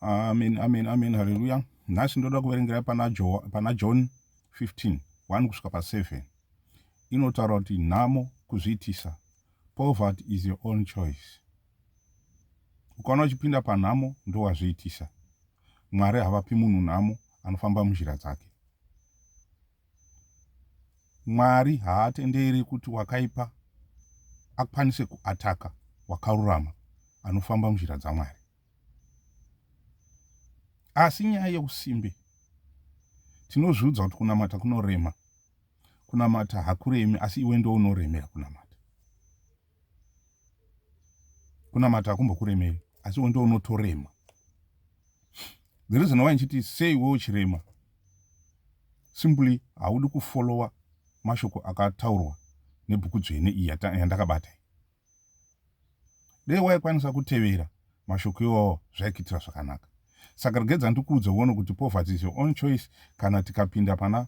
amen amen amen haleluya nhasi ndoda kuverengera pana, jo, pana john 15 1 kusvika pa7 inotaura kuti nhamo kuzviitisa poverty is your own choice ukaona uchipinda panhamo ndowazviitisa mwari havapi munhu nhamo anofamba munzira dzake Mwari haatenderi kuti wakaipa akwanise kuataka wakarurama anofamba munzira dzaMwari. Asi nyaya yeusimbe, tinozviudza kuti kunamata kunorema. Kunamata hakuremi, asi iwe ndounoremera kunamata. kunamata hakumbokuremeri asi iwe ndounotorema the reason why ndichiti sei iwe uchirema simply haudi kufollowa mashoko akataurwa nebhuku dzvene iyi yandakabata iyi dei waikwanisa kutevera mashoko iwawo zvaikuitira zvakanaka saka regedza ndikuudza uone kuti poverty is your own choice kana tikapinda pana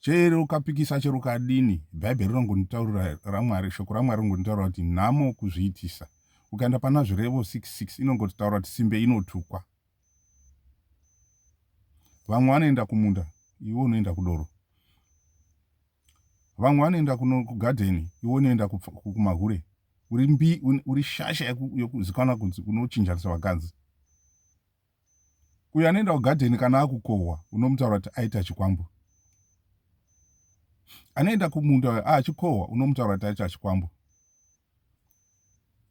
chero ukapikisa chero ukadini bhaibheri rinongonditaurira ramwari shoko ramwari rinongonditaurira kuti nhamo kuzviitisa ukaenda pana zvirevo 66 inongotaura kuti simbe inotukwa vamwe vanoenda kumunda iwe unoenda kudoro vamwe vanoenda kugadheni iwe unoenda kumahure uri mbi uri shasha yokuzikanwa kunzi unochinjanisa vakadzi Uyo anoenda kugadheni kana akukohwa unomutaura kuti aita chikwambo. Anoenda kumunda uyo achikohwa unomutaura kuti aita chikwambo.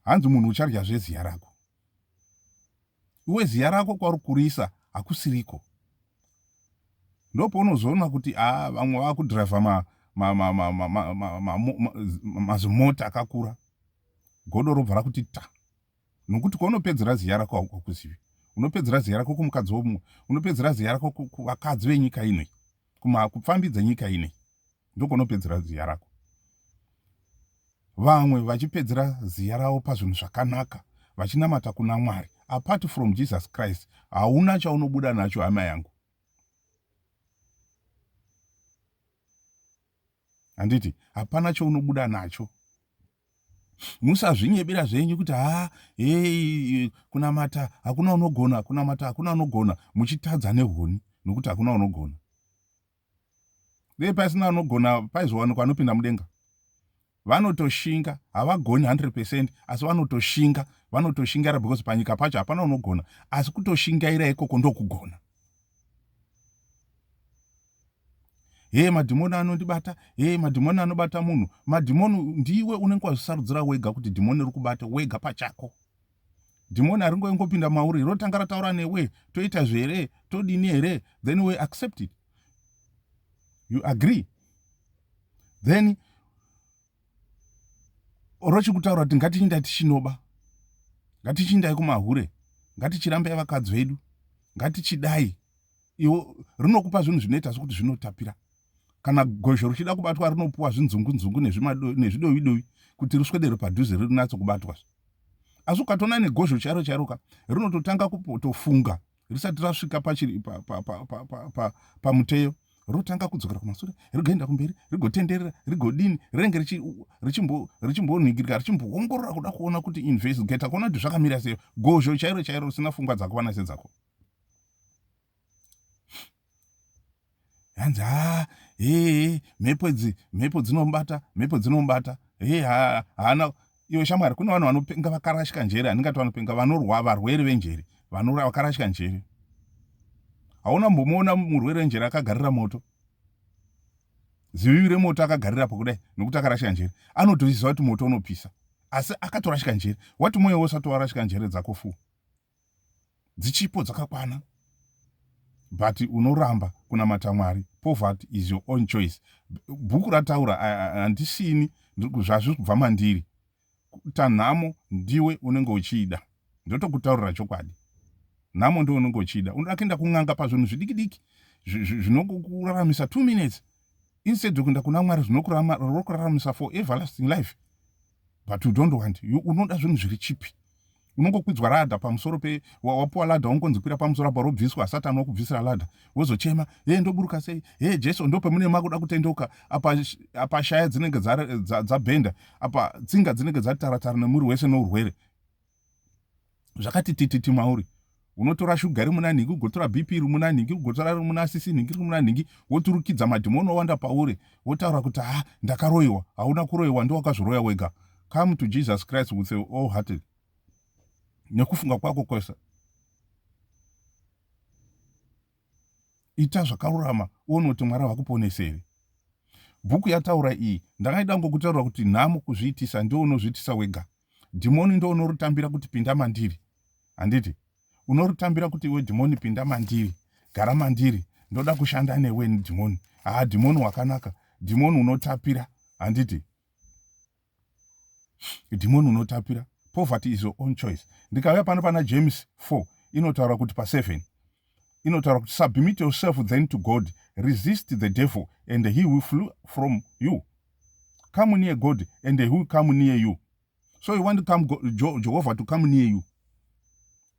Hanzi munhu uchadya zveziya rako. Iwe ziya rako kwauri kurisa hakusiriko. Ndopounozoona kuti a ah, vamwe vakudhiraivha mazimota akakura. Godo robva rakuti ta. nokuti kwaunopedzera ziya rako haukakuzivi unopedzera ziya rako kumukadzi womumwe unopedzera ziya rako kuvakadzi venyika inoi kupfambi dzenyika inei ndokunopedzera ziya rako vamwe vachipedzera ziya ravo pazvinhu zvakanaka vachinamata kuna mwari apart from jesus christ hauna chaunobuda nacho hama yangu handiti hapana chounobuda nacho musazvinyebera zvenyu kuti ha hei kunamata hakuna unogona kunamata hakuna unogona muchitadza nehuni nokuti hakuna unogona dei pasina unogona paizowanikwa anopinda mudenga vanotoshinga havagoni 100 percent asi vanotoshinga vanotoshingaira because panyika pacho hapana unogona asi kutoshingaira ikoko ndokugona hee madhimoni anondibata hee madhimoni anobata munhu madhimoni ndiwe unenge wazvisarudzira wega kuti dhimoni riri kubata wega pachako dhimoni haringoingopinda mauri rotanga rataura newe toita zvere todini here then we accept it you agree then or chiri kutaura kuti ngatichindai tichinoba ngatichindai kumahure ngatichirambai vakadzi vedu ngatichidai iwo rinokupa zvinhu zvinoita sokuti zvinotapira kana gozho richida kubatwa rinopuwa zvinzungunzungu nezvidovidovi kuti riswedere padhuze rinatso kubatwa asi ukatoona negozho chairo chairoka rinototanga kutofunga risati rasvika pachiri pamuteyo rotanga kudzokera kumasure rigoenda kumberi rigotenderera rigodini rinenge richimbonhingirika richimboongorora kuda kuona kuti investigata kuona kuti zvakamira seyo gozho chairo chairo risina fungwa dzakuvana sedzako hanzi haa hee mhepo idzi mhepo dzinomubata mhepo dzinomubata hee haana iwe shamwari kune vanhu vanopenga vakarashika njere handingati vanopenga vanorwa varwere venjere vanora vakarashika njere hauna mbomuona murwere wenjere akagarira moto zivivi remoto akagarira pakudai nokuti akarashika njere anotoziva kuti moto unopisa asi akatorashika njere wati mwoyo wosati warashika njere dzako fuu dzichipo dzakakwana but unoramba kunamata mwari poverty is your own choice bhuku rataura handisini zvazviri kubva mandiri kuita nhamo ndiwe unenge uchiida ndotokutaurira chokwadi nhamo ndiwe unenge uchiida unoda kuenda kun'anga pazvinhu zvidiki diki zvinokuraramisa two minutes instead yokuenda kuna mwari zvinokuraramisa for everlasting life but you don't want you unoda zvinhu zviri chipi unongokwidzwa ladha pamusoro pe wapuwa ladha ungonzi kwira pamusoro apa robviswa satani wakubvisira ladha wozochema hee ndoburuka sei hee jesu ndo pamune makuda kutendeuka apa apa shaya dzinenge dzabhenda apa tsinga dzinenge dzataratara nemuri wese nourwere zvakati tititi mauri unotora shuga iri muna nhingi ugotora bp iri muna nhingi ugotora iri muna sisi nhingi iri muna nhingi woturikidza madhimoni owanda pauri wotaura kuti ha ndakaroyiwa hauna kuroyiwa ndiwakazviroya wega come to jesus christ with your all hearted nekufunga kwako kwese ita zvakarurama uone kuti mwari vakuponese here bhuku yataura iyi ndakaida ngokutaura kuti nhamo kuzviitisa ndiwo unozviitisa wega Dhimoni ndo unorutambira kuti pinda mandiri. Handiti? Unorutambira kuti iwe dhimoni pinda mandiri. Gara mandiri. Ndoda kushanda newe dhimoni. Haa dhimoni wakanaka. Dhimoni unotapira. Handiti? Dhimoni unotapira. Poverty is your own choice. Ndikauya pano pana James 4 inotaura kuti pa 7 inotaura kuti submit yourself then to god resist the devil and he will flew from you come near god and he will come near you so you want to come jehovah to come near you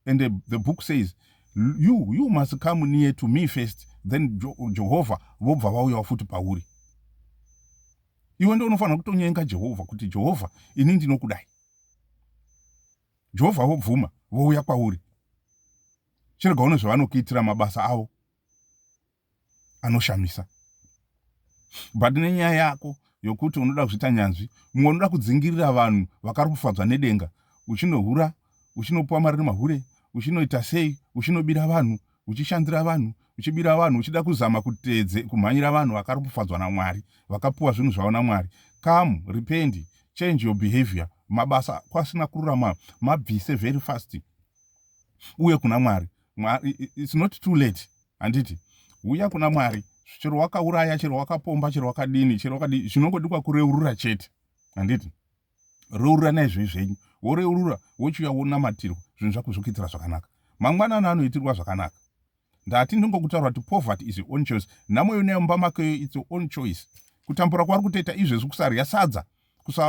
and the, the book says you you must come near to me first then jehovha vobva vauyawo futi pauri iwe ndo unofanira kutonyenga jehovha kuti jehovha ini ndinokudai jehovha vobvuma vouya kwauri chirega uno zvavanokuitira mabasa avo anoshamisa but nenyaya yako yokuti unoda kuzviita nyanzvi mumwe unoda kudzingirira vanhu vakari kufadzwa nedenga uchinohura uchinopiwa mari nemahure uchinoita sei uchinobira vanhu uchishandira vanhu uchibira vanhu uchida kuzama kutedze kumhanyira vanhu vakari kufadzwa namwari vakapiwa zvinhu zvavo namwari come rependi change your behavior mabasa kwasina kururama mabvise very fast uye kuna mwari it's not too late handiti huya kuna mwari chero wakauraya chero wakapomba chero wakadini chero wakadii zvinongodikwa kureurura chete handiti reurura naizvoi zvenyu woreurura wochiuya wonamatirwa zvinhu zvakuzvokuitira zvakanaka mangwanani anoitirwa zvakanaka ndati ndingokutaura kuti poverty is your own choice nhamo yonayo mumba makeyo its your own choice kutambura kwauri kutoita izvezvi kusarya sadza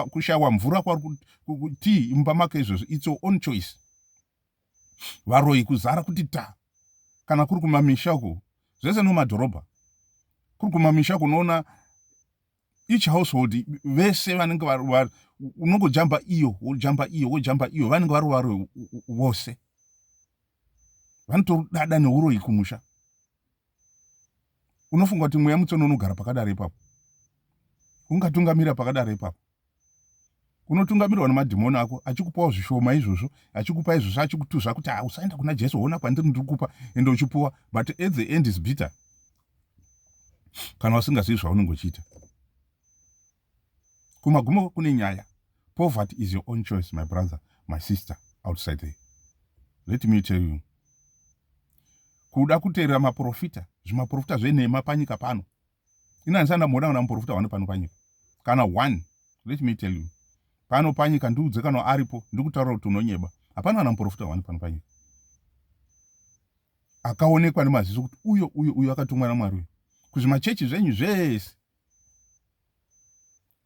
kushaiwa mvura kwauri kutii mumba make izvezvi its your own choice varoyi kuzara kuti ta kana kuri kumamisha uku zvese nomadhorobha kuri kumamisha kunoona each household vese vanenge varova unongojamba iyo wojamba iyo wojamba iyo vanenge varova royo vose vanotorudada neuroyi kumusha unofunga kuti mweya mutsona unogara pakadaro ipapo ungatungamira pakadaro ipapo unotungamirwa nemadhimoni ako achikupawo zvishoma izvozvo achikupa izvozvo achikutuzva kuti ah, usaenda kuna jesu ona kwandiri ndiri kupa ende uchipuwa but at the end is bitter kana usingazivi zvaunenge uchiita kumagumo kune nyaya poverty is your own choice my brother my sister outside there let me tell you kuda kuteerera maprofita zvimaprofita zvenhema panyika pano ini handisati ndamboona kana muporofita hwani pano panyika kana one let me tell you pano panyika ndiudze kana aripo ndikutaura kuti unonyeba hapana kana muporofita hwani pano panyika akaonekwa nemaziso kuti uyo uyo uyo akatumwa namwari uyo kuzvimachechi zvenyu zvese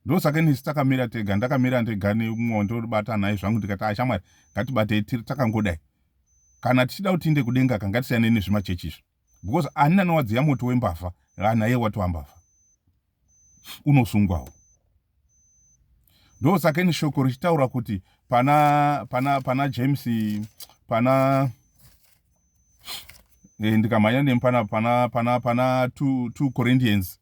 ndosaka nisi takamira tega ndakamira ndega nemumwe ndobata nhai zvangu ndikati ashamwari ah, ngatibatei tiri takangodai kana tichida kuti tiinde kudenga ka ngatisiyane nezvimachechi izvi because ani nanowadziya moto wembavha anaye ah, watova mbavha unosungwawo ndosaka ini shoko richitaura kuti pana pana pana james pana e, ndikamhanya nemi pana pana pana pana two, two corinthians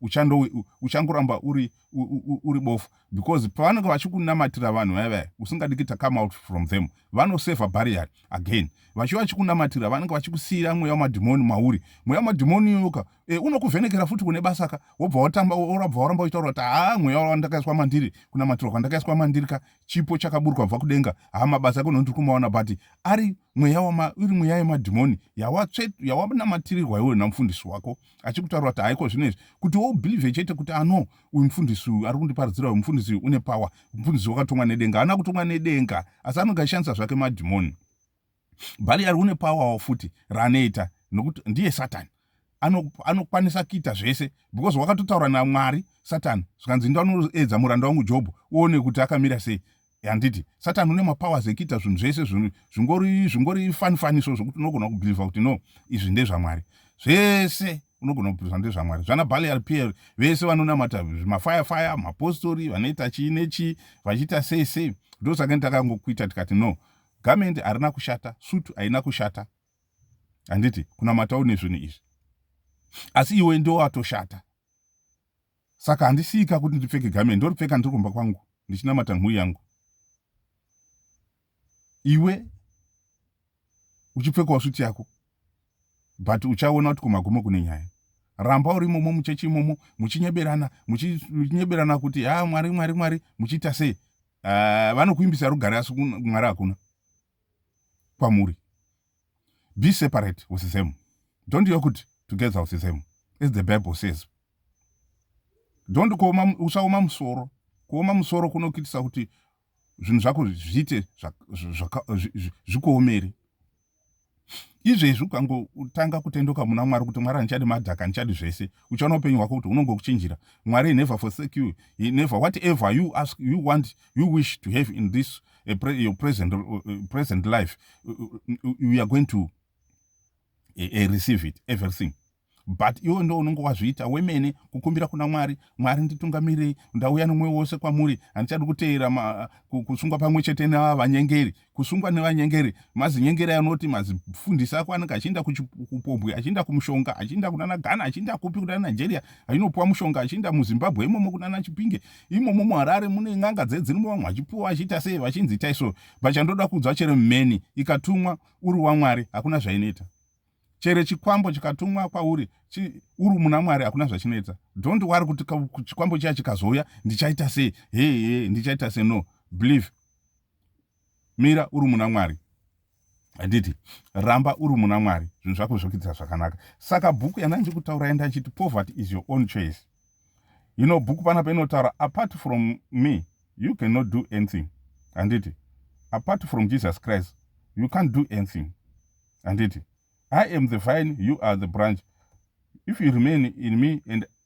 uchando uchangoramba uri uri bofu because pavanenge vachikunamatira vanhu vaya vaya usingadi kuita come out from them vanoseva barrier again vachiva vachikunamatira vanenge vachikusiira mweya wamadhimoni mauri mweya wamadhimoni yoka e, eh, unokuvhenekera futi kune basa ka wobva watamba orabva waramba uchitaura kuti haa mweya wandakaiswa mandiri kunamatirwa kwandakaiswa mandiri ka chipo chakaburwa bva kudenga haa mabasa ako nondiri kumaona but ari mweya wama iri mweya yemadhimoni yawatsve yawanamatirirwa iwe namufundisi wako achikutaura kuti haiko zvino izvi kuti wobhilivhe chete kuti ano ah, uyu mufundisi uyu ari kundiparidzira uyu mufundisi uyu une power mufundisi wakatongwa nedenga haana kutongwa nedenga asi anonge ashandisa zvake madhimoni bhali ari une powerwo futi raanoita nokuti ndiye satani anokwanisa ano kuita zvese because wakatotaura namwari satani zvikanzi ndoanoedza muranda wangu jobho uone kuti akamira sei handiti satan une mapowers ekuita zvinhu zvese zvingori zvingori fani fani so zvokuti unogona kubhilivha kuti no izvi ndezvamwari zvese unogona kubhilivha ndezvamwari zvana balial pl vese vanonamata mafire fire mapostori vanoita chii nechii vachiita sei sei ndosaka nditakangokuita tikati no gamendi harina kushata sutu haina kushata handiti kunamatawo nezvinhu izvi asi iwe ndowatoshata Saka handisika kuti ndipfeke garment ndoripfeka ndiri kumba kwangu ndichinamata nhuwi yangu. Iwe uchipfekawo suit yako but uchaona kuti kumagumo kune nyaya. Ramba uri imomo muchechi imomo muchinyeberana muchinyeberana kuti ha mwari mwari mwari muchiita sei. Uh, vanokuimbisa rugare asi mwari hakuna. kwamuri be separate with them don't yo kuti together with them as the bible says don't kuoma usaoma musoro kuoma musoro kunokuitisa kuti zvinhu zvako zviite zvikuomeri izvezvi ukangotanga kutendoka muna mwari kuti mwari handichadi madhaka handichadi zvese uchaona upenyu hwako kuti unongokuchinjira mwari never forsake you never whatever you ask you want you wish to have in this uh, pre your present, uh, uh present life, uh, uh, you are going to uh, receive it, everything. but iwe ndo unonge wazviita wemene kukumbira kuna mwari mwari nditungamirirei ndauya nomwoyo wose kwamuri handichadi kuteera kusungwa pamwe chete nevava vanyengeri kusungwa nevanyengeri mazinyengeri anoti mazifundisi ako anenge achienda kupombwe achienda kumushonga achienda kunana ghana achienda kupi kunana nigeria achinopuwa mushonga achienda muzimbabwe imomo kunana chipinge imomo muharare mune n'anga dzedzirimo vamwe vachipuwa vachiita sei vachinzi itai so but chandoda kuudzwa chero mheni ikatumwa uri wamwari hakuna zvainoita chero chikwambo chikatumwa kwauri chi, uri muna mwari hakuna zvachinetsa don't wari kuti chikwambo chiya chikazouya ndichaita sei hee ndichaita sei no believe mira uri muna mwari handiti ramba uri muna mwari zvinhu zvako zvokuitira zvakanaka saka bhuku yandandiri kutaura enda achiti poverty is your own choice you know bhuku pana painotaura apart from me you cannot do anything handiti apart from jesus christ you can't do anything handiti i am the vine you are the branch if you remain in me and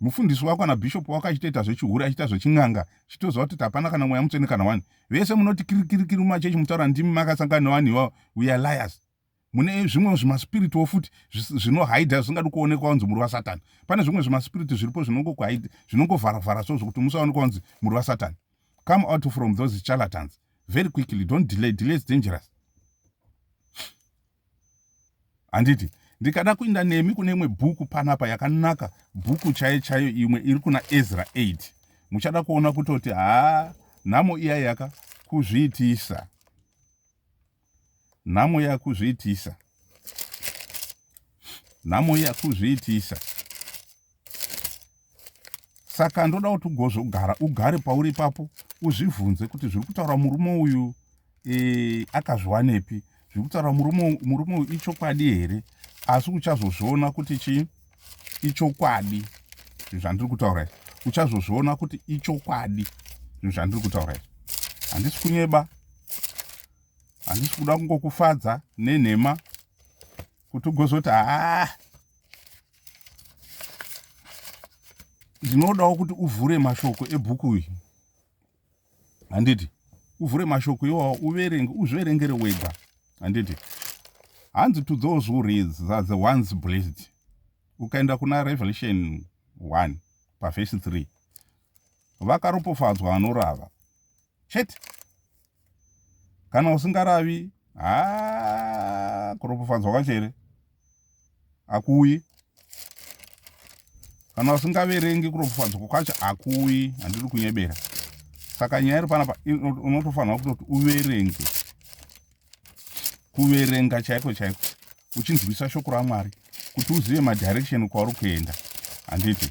Mufundisi wako kana bishop wako achitoita zvechihure achiita zvechin'anga chitoziva kuti hapana kana mweya mutsvene kana wani vese munoti kirikirikiri mumachechi mutaura ndimi makasangana nevanhu ivavo we are liars mune zvimwe zvimasipiritwo futi zvinohaidha zvisingadi kuonekwa kunzi muri vasatani pane zvimwe zvimasipiriti zviripo zvinongokuhaidha zvinongovharavhara so zvokuti musaonekwa kunzi muri vasatani come out from those charlatans very quickly don't delay delay is dangerous handiti ndikada kuinda nemi kune imwe bhuku panapa yakanaka bhuku chaiyo chaiyo imwe iri kuna ezra 8 muchada kuona kutoti haa nhamo iya yaka kuzviitisa nhamo yakuzviitisa nhamo yakuzviitisa saka ndoda kuti ugozvogara ugare pauri ipapo uzvivhunze kuti zviri kutaura murume uyu e, akazviwanepi zviri kutaura murume uyu ichokwadi here asi uchazozviona kuti chii ichokwadi zvinhu zvandiri kutaura izvi uchazozviona kuti ichokwadi zvinhu zvandiri kutaura izvi handisi kunyeba handisi kuda kungokufadza nenhema kuti ugozoti haa ndinodawo kuti uvhure mashoko ebhuku uyi handiti uvhure mashoko iwawo uverenge uzviverengere wega handiti hanzi to those who reads are the ones blessed ukaenda kuna revelation 1 pavhesi 3 vakaropofadzwa vanorava chete kana usingaravi haa kuropofadzwa kwacho here akuuyi kana usingaverengi kuropofadzwa kwacho akuuyi handiri kunyebera saka nyaya iri panapa unotofanira kutoti uverenge kuverenga chaiko chaiko uchinzwisa shoko ramwari kuti uzive madirection kwauri kuenda handiti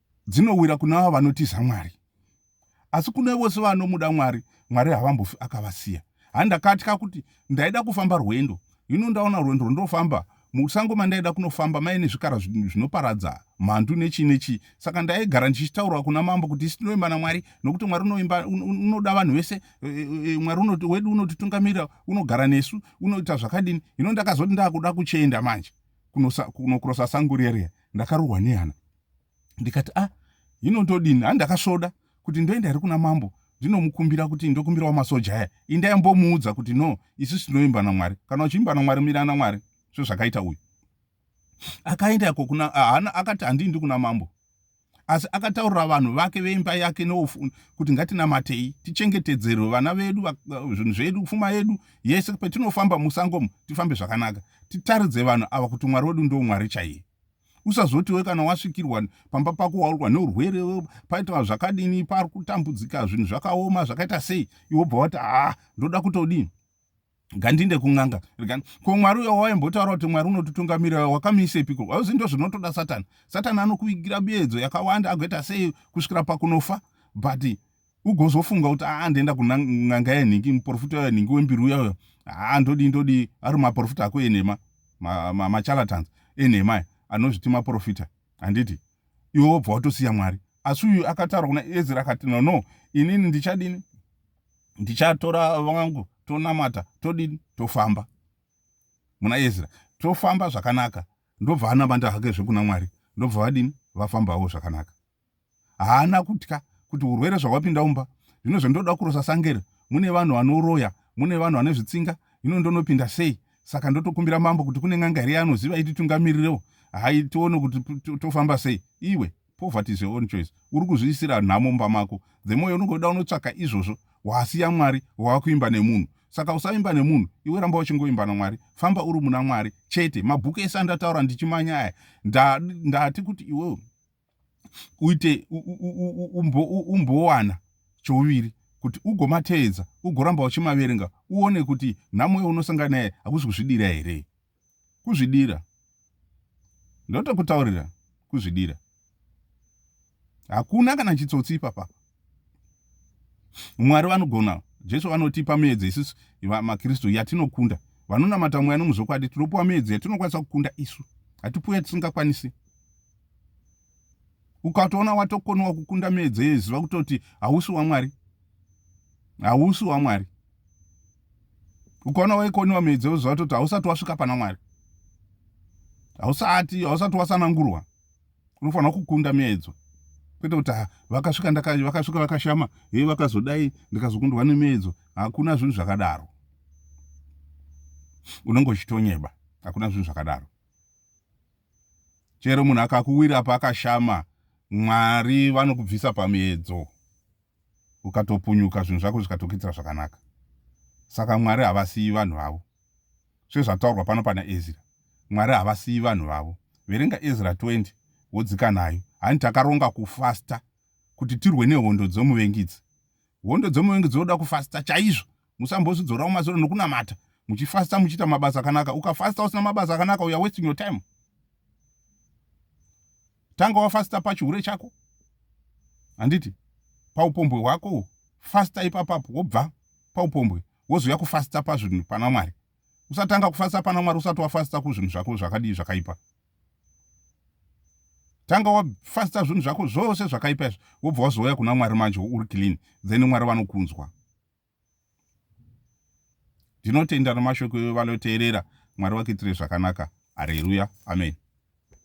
dzinowira kuna avo vanotiza Mwari. Asi kune vose vanomuda Mwari, Mwari havambofi akavasiya. Ha, ndakatya kuti ndaida kufamba rwendo. Hino ndaona rwendo rwondofamba. Musango mandaida kunofamba maive nezvikara zvinoparadza mhandu nechii nechii. Saka ndaigara ndichitaura kuna mambo kuti isu tinoimba naMwari nokuti Mwari unoimba, unoda vanhu vese. E, e, e, Mwari unoti, wedu unotitungamirira, unogara nesu, unoita zvakadini. Hino ndakazoti ndakuda kuchienda manje kunokurosa sango riya riya. Ndakarohwa nehana. ndikati a ah, hino ndodini handi ndakasvoda kuti ndoenda here kuna mambo ndinomukumbira kuti ndokumbirawo masoja aya indai mbomuudza kuti no isusu tinoimba namwari kana uchiimba namwari mira namwari sezvakaita uyu akaenda ko kuna haana akati handiindi kuna mambo asi akataurira vanhu vake veimba yake nofu kuti ngatinamatei tichengetedzerwe vana vedu zvinhu zvedu pfuma yedu yese petinofamba musangomo tifambe zvakanaka titaridze vanhu ava kuti mwari wedu ndo mwari chaiye usazoti we kana wasvikirwa pamba pako waurwa neurwere paitwa zvakadini pari kutambudzika zvinhu zvakaoma zvakaita sei iwe bva wati haa ndoda kutodii gandinde kun'anga regani ko mwari uyo waimbotaura kuti mwari unotitungamirira wakamiisepiko wauzi ndo zvinotoda satani satani anokuvigira biedzo yakawanda agoita sei kusvikira pakunofa but ugozofunga kuti aa ndoenda kun'anga yenhingi muporofita uya nhingi wembiri uya uya haa ndodii ndodii ari maporofita ako enhema machalatans ma, ma enhema aya anozviti maporofita handiti iwe wobva watosiya mwari asi uyu akataura kuna ezra akati no no inini ndichadini ndichatora vangu tonamata todini tofamba muna ezra tofamba zvakanaka ndobva anamanda hake zvekuna mwari ndobva vadini vafambawo zvakanaka haana kutya kuti urwere zvawapinda umba zvino zvandoda kurosa sangere mune vanhu vanoroya mune vanhu vane zvitsinga hino ndonopinda sei saka ndotokumbira mambo kuti kune n'anga here yaanoziva ititungamirireo hai tione kuti tofamba sei iwe poverty is your own choice uri kuzviisira nhamo mumba mako the moyo unongoda unotsvaka izvozvo wasiya mwari wakuimba nemunhu saka usaimba nemunhu iwe ramba uchingoimba namwari famba uri muna mwari chete mabhuku ese andataura ndichimanya aya ndati kuti iwewe uite umbowana chouviri kuti ugomateedza ugoramba uchimaverenga uone kuti nhamo yaunosangana naye hakusi kuzvidira here kuzvidira ndotokutaurira kuzvidira hakuna kana chitsotsi ipapapa Mwari vanogona. Jesu vanotipa miedzo isusu maKristu yatinokunda. Vanonamata mweya nomuzvokwadi tinopiwa miedzo yatinokwanisa kukunda isu. Hatipiwe yatisingakwanisi. Ukatoona watokoniwa kukunda miedzo iyoyi ziva kutoti hausi waMwari. Hausi waMwari. Ukaona waikoniwa miedzo iyoyi ziva kutoti hausati wasvika pana Mwari. Hausati, hausati wasanangurwa. unofanira kukunda miedzo kwete kuti ah, vakasvika vakasvika vakashama he vakazodai ndikazokundwa nemiedzo hakuna zvinhu zvakadaro unenge uchitonyeba hakuna zvinhu zvakadaro chero munhu akakuwira paakashama mwari vanokubvisa pamiedzo ukatopunyuka zvinhu zvako zvikatokuitira zvakanaka saka mwari havasiyi vanhu vavo sezvataurwa pano pana ezira mwari havasiyi vanhu vavo verenga ezra 20 wodzika nayo hani takaronga kufasta kuti tirwe nehondo dzomuvengidzi hondo dzomuvengi dzinoda kufasta chaizvo musambozvidzorawo mazero nokunamata muchifasta muchiita mabasa akanaka ukafasta usina mabasa akanaka uya wasting your time tanga wafasta pachihure chako handiti paupombwe hwako fasta ipapapo wobva paupombwe wozouya kufasta pazvinhu pana mwari usatanga kufasta pana mwari usati wafasta kuzvinhu zvako zvakadii zvakaipa tanga wafasta zvinhu zvako zvose zvakaipa izvi wobva wazouya kuna mwari manje uri clean then mwari vanokunzwa ndinotenda nemashoko evanoteerera mwari vakuitire zvakanaka hareruya amen